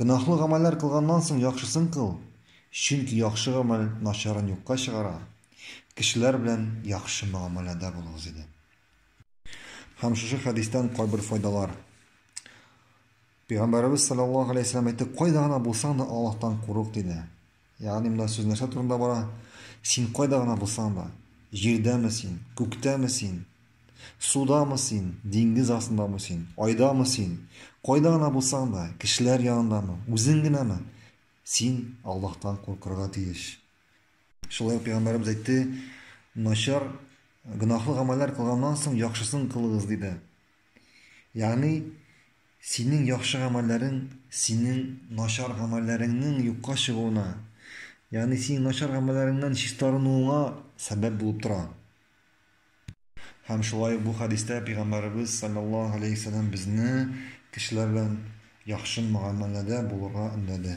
Гөнаһлы гамәлләр кылганнан соң яхшысын кыл, чөнки яхшы гамәл начарын юкка чыгара. Кешеләр белән яхшы мөгамәләдә булыгыз иде. Һәм шушы хәдистән кайбер файдалар. Пәйгамбәребез саллаллаһу алейһи вәсәлләм әйтте, кайда гына булсаң да Аллаһтан курык диде. Ягъни монда сүз нәрсә турында бара? Син кайда гына булсаң да, җирдәме син, күктәме син, судамы син, диңгез астындамы син, айдамы син, кайда гына булсаң да, кешеләр янындамы, үзең генәме, син Аллаһтан куркырга тиеш. Шулай ук пәйгамбәребез әйтте, начар гөнаһлы гамәлләр кылганнан соң яхшысын кылыгыз диде. Ягъни, синең яхшы гамәлләрең синең начар гамәлләреңнең юкка чыгуына, ягъни синең начар гамәлләреңнән чистарынуыңа сәбәп булып тора. Һәм шулай ук бу хәдистә пәйгамбәребез саллаллаһу алейһи ва саллям безне кешеләр белән яхшы мөгамәләдә булырга өндәде.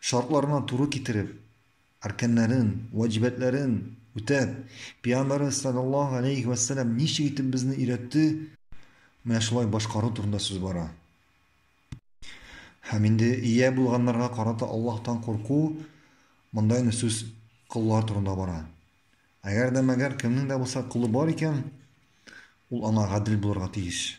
Шартларына туры китереп, арканнарын, ваҗибәтләрен үтәп, Пәйгамбәребез салләллаһу галәйһи вә сәлләм ничек итеп безне өйрәтте, менә шулай башкару турында сүз бара. Һәм инде ия булганнарга карата Аллаһтан курку, монда инде сүз коллар турында бара. Әгәр дә мәгәр кемнең дә булса колы бар икән, ул аңа гадел булырга тиеш.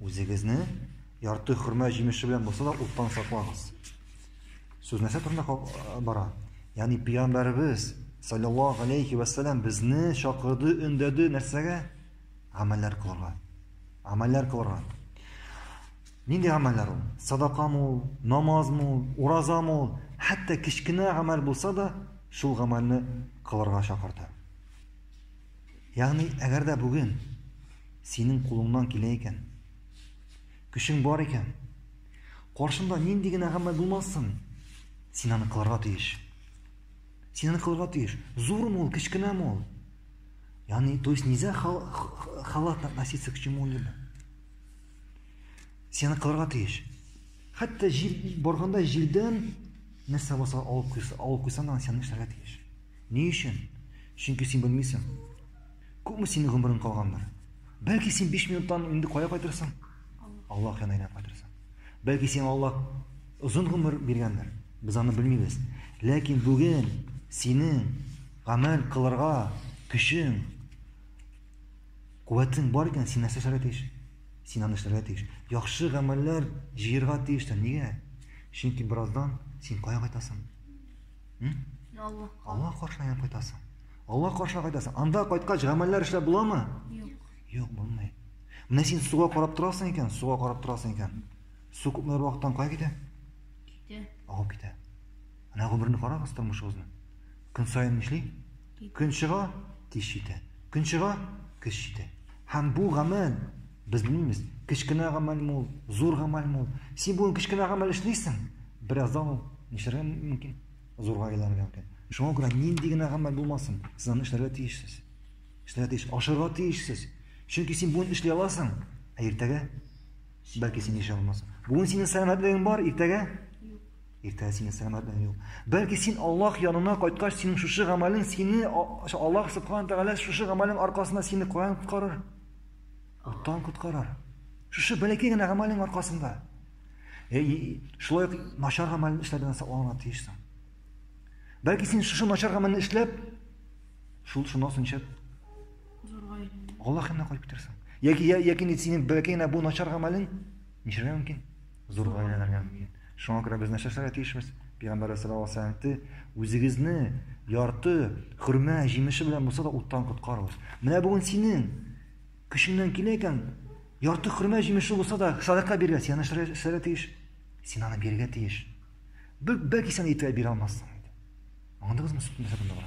Үзегезне ярты хөрмә җимеше белән булса да уттан саклагыз. Сүз нәрсә турында бара? Ягъни пәйгамбәребез саллаллаһу алейхи ва саллям безне чакырды, өндәде нәрсәгә? Гамәлләр кылырга. Гамәлләр кылырга. Нинди гамәлләр ул? Садакамы ул, намазмы ул, уразамы ул? Хәтта кечкенә гамәл булса да, шул гамәлне кылырга чакырды. Ягъни, әгәр дә бүген синең кулыңнан килә икән, көчең бар икән, каршында нинди генә гамәл булмасын, син аны кылырга тиеш. Син аны кылырга тиеш. Зурмы ул, кечкенәме ул? Ягъни, то есть нельзя халатно относиться к чему-либо. Син аны кылырга тиеш. Хәтта җил барганда җилдән нәрсә булса алып куйса, алып куйсаң, син аны эшләргә тиеш. Ни өчен? Чөнки син белмисең. Күпме синең гомерең калгандыр? Бәлки син 5 минуттан инде кая кайтырсың? Аллаһ янына әйләнеп кайтырсың. Бәлки сиңа Аллаһ озын гомер биргәндер. Без аны белмибез. Ләкин бүген синең гамәл кылырга көчең, куәтең бар икән, син нәрсә эшләргә тиеш? Син аны эшләргә тиеш. Яхшы гамәлләр җыерга тиеш тә. Нигә? Чөнки бераздан син кая кайтасың? Алла. Алла каршына кайтасың. Алла каршына кайтасың. Анда кайткач гамәлләр эшләп буламы? Юк. Юк, булмый. Менә син суга карап торасың икән, суга карап торасың икән. Су күпмеләр вакыттан кая китә? Китә. Агып китә. Менә гомерне карагыз тормышыгызны. Көн саен нишли? Көн чыга, кич җитә. Көн чыга, кич җитә. Һәм бу гамәл Без белмибез, кечкенә гамәлме ул, зур гамәлме ул. Син бүген кечкенә гамәл эшлисең, бераздан ул нишләргә мөмкин? Зурга әйләнергә мөмкин. Шуңа күрә нинди генә гамәл булмасын, сез аны эшләргә тиешсез. Эшләргә тиеш, ашарга тиешсез. Чөнки син бүген эшли аласың, ә иртәгә бәлки син эшли алмассың. Бүген синең сәламәтлегең бар, иртәгә Иртәгә синең сәламәтлегең юк. Бәлки син Аллаһ янына кайткач, синең шушы гамәлең сине Аллаһ субхана тәгалә шушы гамәлең аркасында сине каян коткарыр? Уттан коткарар. Шушы бәләкәй генә гамәлең аркасында. Э, шулай ук начар гамәлне эшләп белән сакланырга тиешсең. Бәлки син шушы начар гамәлне эшләп, шул шуннан соң чеп. Аллаһ янына кайтып китерсең. Яки яки синең бәләкәй генә бу начар гамәлең ничәргә мөмкин? Зур гаиләләргә мөмкин. Шуңа күрә без нәрсәшләргә тиешбез? Пигамбәрбез саллаллаһу алейһи ва сәлләм әйтте, Үзегезне ярты хөрмә җимеше белән булса да уттан коткарыгыз. Менә бүген синең көчеңнән килә икән, ярты хөрмә җимеше булса да садака бирергә, син нәрсәләргә эшләргә тиеш? Син аны бирергә тиеш. Бер бәки сен итә бирә алмассың. Аңдыгызмы сүзне?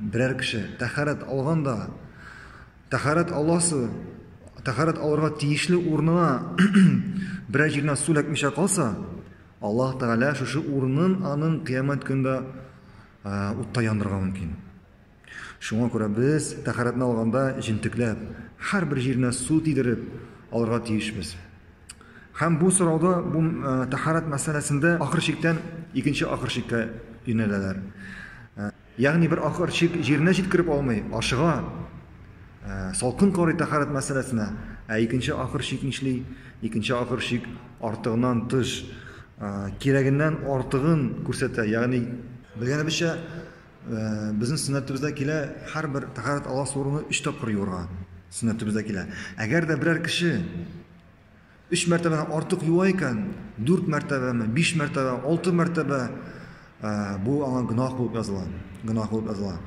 Берәр кеше тәһарәт алганда, тәһарәт аласы, тәһарәт алырга тиешле урынына берәр җиренә су эләкмичә калса, Аллаһ Тәгалә шушы урынын аның кыямәт көндә утта яндырырга мөмкин. Шуңа күрә без тәһарәтне алганда җентекләп, һәрбер җиренә су тидереп алырга тиешбез. Һәм бу сорауда бу тәһарәт мәсьәләсендә ахыр чиктән икенче ахыр чиккә юнәләләр. Ягъни бер акыр чик җиренә җиткереп алмый, ашыга, салкын карый тәһарәт мәсьәләсенә. Ә икенче акыр чик нишли? Икенче акыр чик артыгыннан тыш, кирәгеннән артыгын күрсәтә, ягъни. Белгәнебезчә, безнең сөннәтебездә килә, һәрбер тәһарәт аласы урыны өч тапкыр юырга сөннәтебездә килә. Әгәр дә берәр кеше Өч мәртәбәдән артык юа икән, дүрт мәртәбәме, биш мәртәбә, алты мәртәбә, ә, бу аңа гөнаһ булып языла. Гөнаһ булып языла.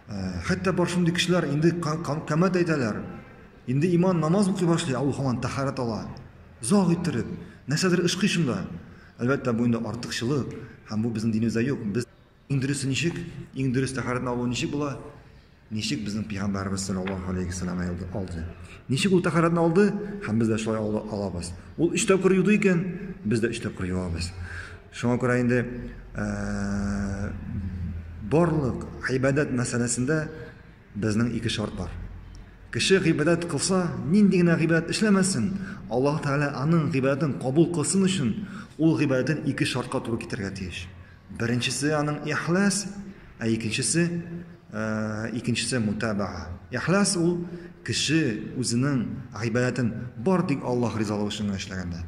Ә, хәтта бар шундый кешеләр инде камәт әйтәләр. Инде иман намаз укый башлый, ә ул һаман тәһарәт ала. Заг иттереп, нәрсәдер ышкый шунда. Әлбәттә, бу инде артыкчылык, һәм бу безнең динебездә юк. Без Иң дөресе ничек? Иң дөрес тәһарәтне алу ничек була? Ничек безнең пәйгамбәрбез саллаллаһу алейхи вәсәлләм алды? алды? Ничек ул тәһарәтне алды? Һәм без дә шулай ала- алабыз. Ул өч тапкыр юды икән, без дә өч тапкыр юабыз. Шуңа күрә инде ә, барлык гыйбадәт мәсьәләсендә безнең ике шарт бар. Кеше гыйбадәт кылса, нинди генә гыйбадәт эшләмәсен, Аллаһ Тәгалә аның гыйбадәтен кабул кылсын өчен, ул гыйбадәтен ике шартка туры китерергә тиеш. Беренчесе аның ихлас, ә икенчесе э, икенчесе мутабаа. Ихлас ул кеше үзенең гыйбадәтен бар тик Аллаһ ризалыгы өчен эшләгәндә.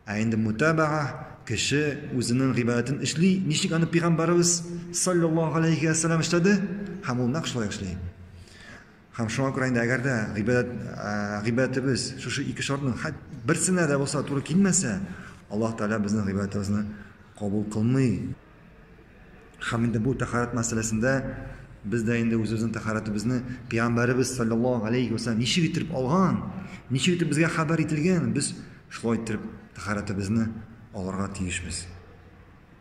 Ә инде мутабаа кеше үзенең гыйбадәтен эшли, ничек аны пәйгамбәрбез саллаллаһу алейхи ва саллям эшләде, һәм ул нәкъ шулай эшли. Һәм шуңа күрә инде әгәр дә гыйбадәт, гыйбадәтебез шушы ике шартның хәт берсенә дә булса туры килмәсә, Аллаһ Тәгалә безнең гыйбадәтебезне кабул кылмый. Һәм инде бу тәхарәт мәсьәләсендә без дә инде үзебезнең тәхарәтебезне пәйгамбәребез саллаллаһу алейхи вәсәлләм ничек итеп алган, ничек итеп безгә хәбәр ителгән, без шулай итеп тәхарәтебезне алырга тиешбез.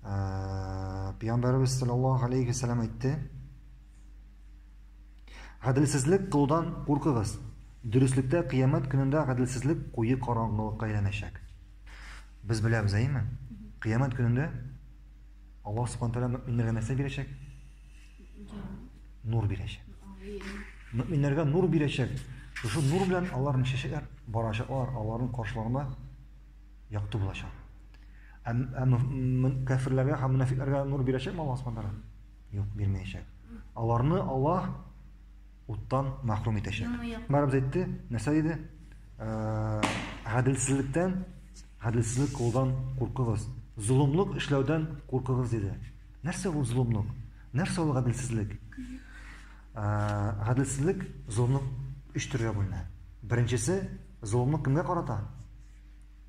Ә, пиямбәребез саллаллаһу алейхи вәсәләм әйтте гаделсезлек кылудан куркыгыз дөреслектә кыямәт көнендә гаделсезлек куе караңгылыкка әйләнәчәк без беләбез әйеме кыямәт көнендә алла субхан тәала мөминнәргә нәрсә бирәчәк нур бирәчәк мөминнәргә нур бирәчәк шушы нур белән аларның чәчәкләр барачаклар аларның каршыларында якты булачак. Ә, ә кәфирләргә һәм мөнәфикләргә нур бирәчәкме Аллаһ Субхану тагала? Юк, бирмәячәк. Аларны Аллаһ уттан мәхрүм итәчәк. Мәрәбез әйтте, нәрсә диде? Ә, гаделсезлектән, гаделсезлек кылудан куркыгыз. Золымлык эшләүдән куркыгыз диде. Нәрсә ул золымлык? Нәрсә ул гаделсезлек? Ә, гаделсезлек золымлык өч төргә бүленә. Беренчесе золымлык кемгә карата?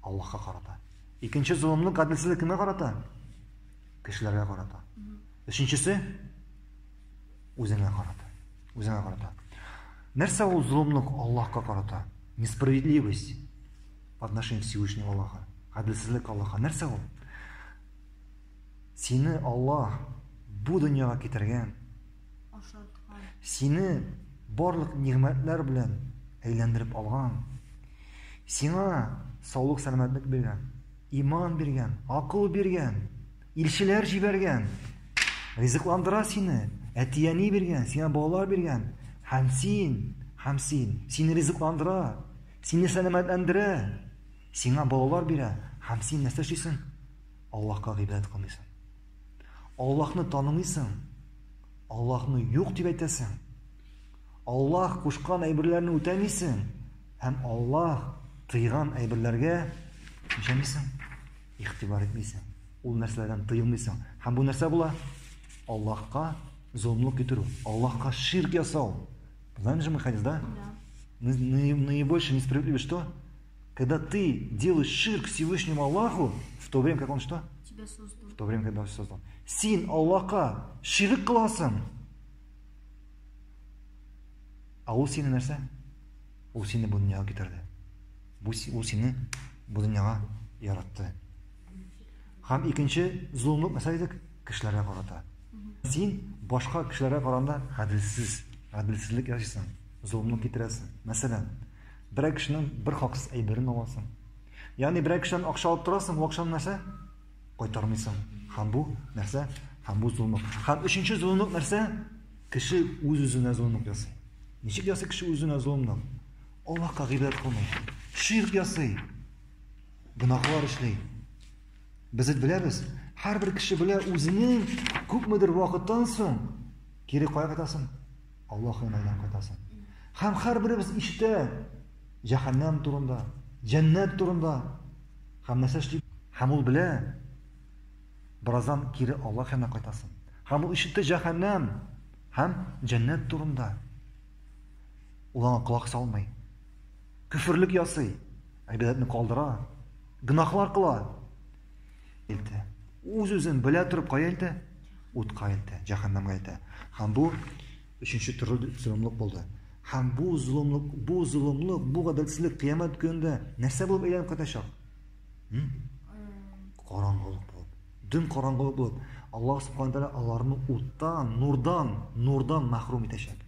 Аллаһка карата. Икенче золымны, гаделсезлек кемгә карата? Кешеләргә карата. Өченчесе үзеңә карата. Үзеңә карата. Нәрсә ул золымлык Аллаһка карата? Несправедливость по отношению к Всевышнему Аллаха. Гаделсезлек Аллаһка. Нәрсә ул? Сине Аллаһ бу дөньяга китергән. Ашаткан. Сине барлык нигъмәтләр белән әйләндереп алган. Сиңа саулык сәламәтлек биргән, иман биргән, акыл биргән, илчеләр җибәргән. Ризыкландыра сине, әтияни биргән, сиңа балалар биргән. Һәм син, һәм син, сине ризыкландыра, сине сәламәтләндерә, сиңа балалар бирә, һәм син нәрсә эшлисең? Аллаһка гыйбадәт кылмыйсың. Аллаһны танымыйсың. Аллаһны юк дип әйтәсең. Аллаһ кушкан әйберләрне үтәмисең һәм Аллаһ тыйган әйберләргә ничәмисең? Ихтибар итмисең. Ул нәрсәләрдән тыелмыйсың. Һәм бу нәрсә була? Аллаһка золымлык китерү, Аллаһка ширк ясау. Знаем же мы хадис, да? Наибольшая несправедливость что? Когда ты делаешь ширк Всевышнему Аллаху, в то время, как он что? Тебя создал. В то время, когда он создал. Син Аллаха ширк кыласың. А ул сине нәрсә? Ул сине бу дөньяга китерде. Бу ул сине бу дөньяга яратты. Хам икенче зулымлык нәрсә дидек? Кешеләргә карата. Син башка кешеләргә караганда гаделсез, гаделсезлек ясыйсың, зулымлык китерәсең. Мәсәлән, Берәр кешенең бер хаксыз әйберен аласың. Ягъни берәр кешедән акча алып торасың, бу акчаны нәрсә? Кайтармыйсың. Һәм бу нәрсә? Һәм бу золымлык. Һәм өченче золымлык нәрсә? Кеше үз-үзенә золымлык ясый. Ничек ясый кеше үзенә золымлык? Аллаһка гыйбадәт кылмый. Ширк ясый. Гөнаһлар эшли. Без беләбез, һәрбер кеше белә үзенең күпмедер вакыттан соң кире кая кайтасын? Аллаһ янайдан кайтасын. Хәм хәрберебез иштә җәһәннәм турында, җәннәт турында. Хәм нәрсә эшли? Хәм ул белә. Бераздан кире Аллаһ янына кайтасын. Хәм ул иштә җәһәннәм һәм җәннәт турында. Ул аңа колак салмый. Күферлек ясый, әйбәтне калдыра, гынахлар кыла. илтә. Үз-үзен белә торып кая илтә? Утка илтә, җәһәннәмгә илтә. Һәм бу өченче төрле золымлык булды. Һәм бу золымлык, бу золымлык, бу гаделсезлек кыямәт көнендә нәрсә булып әйләнеп кайтачак? Караңгылык булып. Дөм караңгылык булып. Аллаһ субхана тәгалә аларны уттан, нурдан, нурдан мәхрүм итәчәк.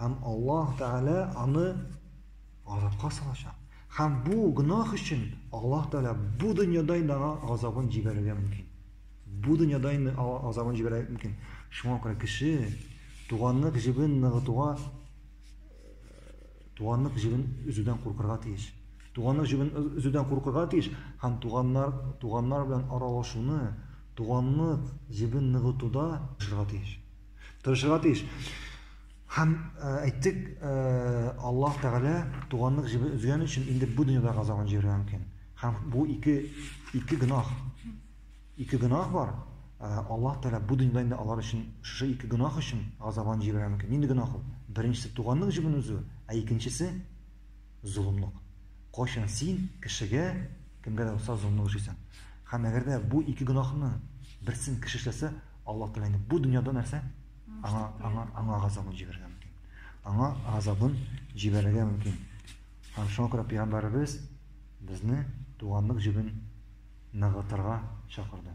Һәм Аллаһ Тәгалә аны газапка салачак. Һәм бу гөнаһ өчен Аллаһ Тәгалә бу дөньяда инде аңа газабын җибәрергә мөмкин. Бу дөньяда инде газабын җибәрергә мөмкин. Шуңа күрә кеше туганлык җебен ныгытуга туганлык җебен өзүдән куркырга тиеш. Туганлык җебен өзүдән куркырга тиеш һәм туганнар туганнар белән аралашуны, туганлык җебен ныгытуда эшләргә тиеш. Тырышырга тиеш. Һәм э, әйттек, э, Аллаһ Тәгалә туганлык җебен өзгән өчен инде бу дөньяда газабын җибәрергә мөмкин. Һәм бу ике ике гөнаһ. Ике гөнаһ бар. Э, Аллаһ Тәгалә бу дөньяда инде алар өчен шушы ике гөнаһ өчен газабын җибәрергә мөмкин. Нинди гөнаһ ул? Беренчесе туганлык җебен өзү, ә икенчесе золымлык. Кайчан син кешегә кемгә дә булса золымлык эшлисең. Һәм әгәр дә бу ике гөнаһның берсен кеше эшләсә, Аллаһ Тәгалә инде бу дөньяда нәрсә? Аңа, аңа, аңа газабын җибәрергә мөмкин. Аңа газабын җибәрергә мөмкин. Һәм шуңа күрә Пәйгамбәребез безне туганлык җебен ныгытырга чакырды.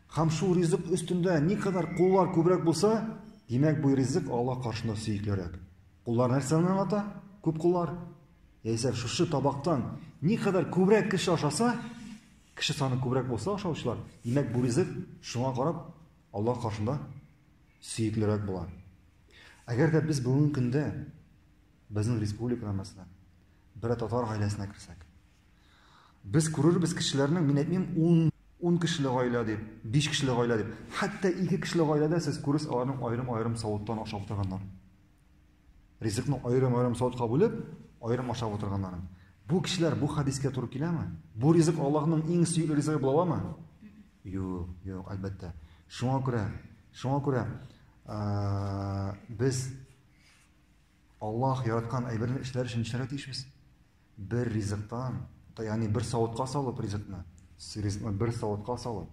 Һәм шул ризык өстендә никадәр куллар күбрәк булса, димәк, бу ризык Аллаһ каршында сөеклерәк. Куллар нәрсәне аңлата? Күп куллар. Яисә шушы табактан никадәр күбрәк кеше ашаса, кеше саны күбрәк булса ашаучылар, димәк, бу ризык шуңа карап Аллаһ каршында сөеклерәк була. Әгәр дә без бүгенге көндә безнең республикада мәсәлән, бер татар гаиләсенә керсәк, Без күрербез кешеләрнең, мин әйтмим, ун, ун кешеле гаилә дип, биш кешеле гаилә дип. Хәтта ике кешеле гаиләдә сез күрерсез аларның аерым-аерым савыттан ашап утырганнар. Ризыкны аерым-аерым савытка бүлеп, аерым ашап утырганнарын. Бу кешеләр бу хәдискә туры киләме? Бу ризык Аллаһның иң сөекле ризыгы була аламы? Юк, юк, әлбәттә. Шуңа күрә, шуңа күрә, без Аллаһ яраткан әйберне эшләр өчен нишләргә тиешбез? Бер ризыктан, ягъни бер савытка салып ризыкны, ризыкны бер савытка салып,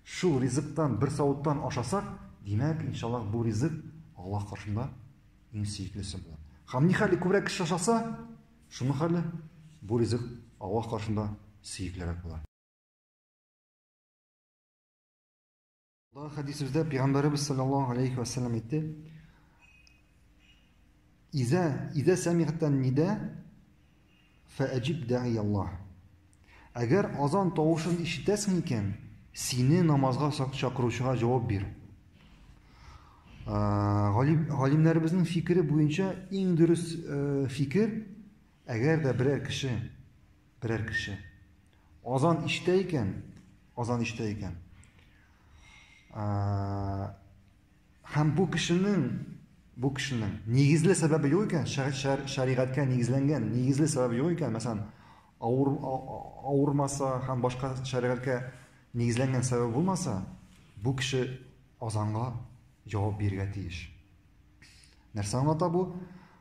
шул ризыктан бер савыттан ашасак, димәк, иншаллах, бу ризык Аллаһ каршында иң сөеклесе була. Һәм ни хәле күбрәк кеше ашаса, шуның хәле бу ризык Аллаһ каршында сөеклерәк була. Бу хәдисебездә Пәйгамбәребез саллаллаһу алейхи ва саллям әйтте: "Иза иза самигътан нида фаҗиб даи Аллаһ." Әгәр азан тавышын ишетәсең икән, сине намазга чакыручыга җавап бир. Галимнәребезнең фикере буенча иң дөрес фикер, әгәр дә берәр кеше берәр кеше. Азан иштә икән, азан иштә икән. Һәм бу кешенең бу кешенең нигезле сәбәбе юк икән, шәригатькә нигезләнгән нигезле сәбәбе юк икән, мәсәлән, авыр авырмаса һәм башка шәригатькә нигезләнгән сәбәбе булмаса, бу кеше азанга җавап бирергә тиеш. Нәрсә аңлата бу?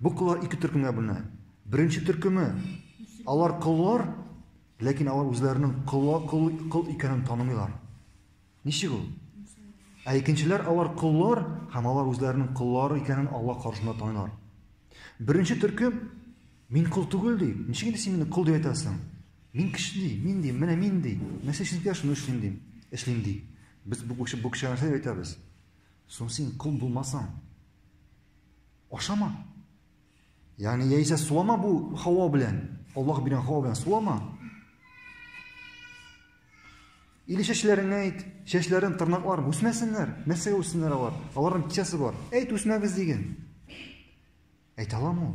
Бу коллар ике төркемгә бүленә. Беренче төркеме, алар коллар, ләкин алар үзләренең колла кол кол икәнен танымыйлар. Ничек ул? Ә икенчеләр алар коллар һәм алар үзләренең коллары икәнен Алла каршында таныйлар. Беренче төркем мин кол түгел ди. Ничек инде син мине кол дип әйтәсең? Мин кеше ди, мин ди, менә мин ди. Нәрсә эшлим дә шуны эшлим ди. Эшлим ди. Без бу кеше бу кеше нәрсә әйтәбез? Соң син кол булмасаң, Ашама. Ягъни яисә сулама бу һава белән. Аллаһ биргән һава белән сулама. Или чәчләреңә әйт, чәчләрен, тырнакларын үсмәсеннәр. Нәрсәгә үссеннәр алар? Аларның кичәсе бар. Әйт, үсмәгез диген. Әйтә аламы ул?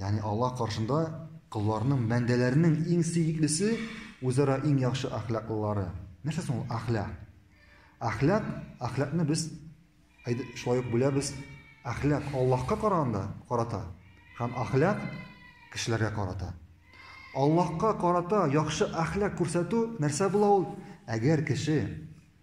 Ягъни Аллаһ каршында колларның, бәндәләрнең иң сөеклесе үзара иң яхшы әхлаклылары. Нәрсә соң ул әхлак? Әхлак, әхлакны без шулай ук бүләбез. Әхлак Аллаһка караганда карата һәм әхлак кешеләргә карата. Аллаһка карата яхшы әхлак күрсәтү нәрсә була ул? Әгәр кеше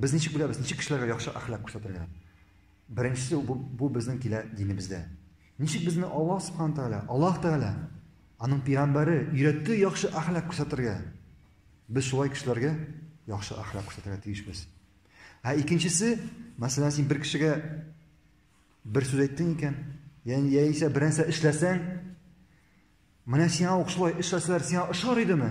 Без ничек беләбез, ничек кешеләргә яхшы әхлак күрсәтергә? Беренчесе бу, бу безнең килә динебездә. Ничек безне Аллаһ Субхану Тәгалә, Аллаһ Тәгалә, аның пигамбәре өйрәтте яхшы әхлак күрсәтергә. Без шулай кешеләргә яхшы әхлак күрсәтергә тиешбез. Ә икенчесе, мәсәлән, син бер кешегә бер сүз әйттең икән, яни яисә бер нәрсә эшләсәң, менә сиңа ук шулай эшләсәләр, сиңа ошар идеме?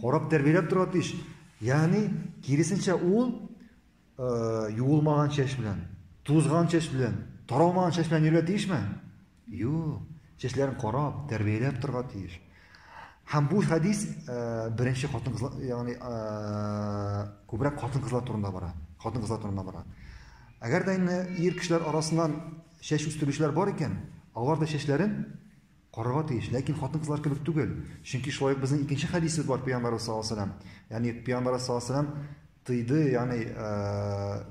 Карап тәрбияләп тора тиеш. Ягъни, киресенчә ул э, юылмаган чәч белән, тузган чәч белән, таралмаган чәч белән йөрергә тиешме? Юк. Чәчләрен карап, тәрбияләп торга тиеш. Һәм бу хәдис э, беренче хатын-кызлар, ягъни, э, күбрәк хатын-кызлар турында бара. Хатын-кызлар турында бара. Әгәр дә инде ир кешеләр арасыннан чәч үстерүчеләр бар икән, алар да чәчләрен Карарга тиеш, ләкин хатын-кызлар кебек түгел. Чөнки шулай ук безнең икенче хәдисебез бар пәйгамбәребез саллаллаһу алейһи ва сәлләм. Ягъни пәйгамбәребез саллаллаһу алейһи ва сәлләм тыйды, ягъни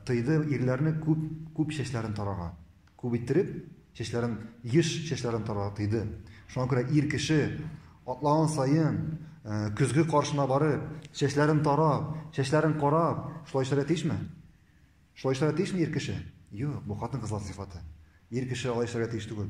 тыйды ирләрне күп күп чәчләрен тарарга. Күп иттереп чәчләрен, еш чәчләрен тарарга тыйды. Шуңа күрә ир кеше атлаган саен көзге каршына барып, чәчләрен тарап, чәчләрен карап, шулай эшләргә тиешме? Шулай эшләргә тиешме ир кеше? Юк, бу хатын-кызлар сыйфаты. Ир кеше алай эшләргә тиеш түгел.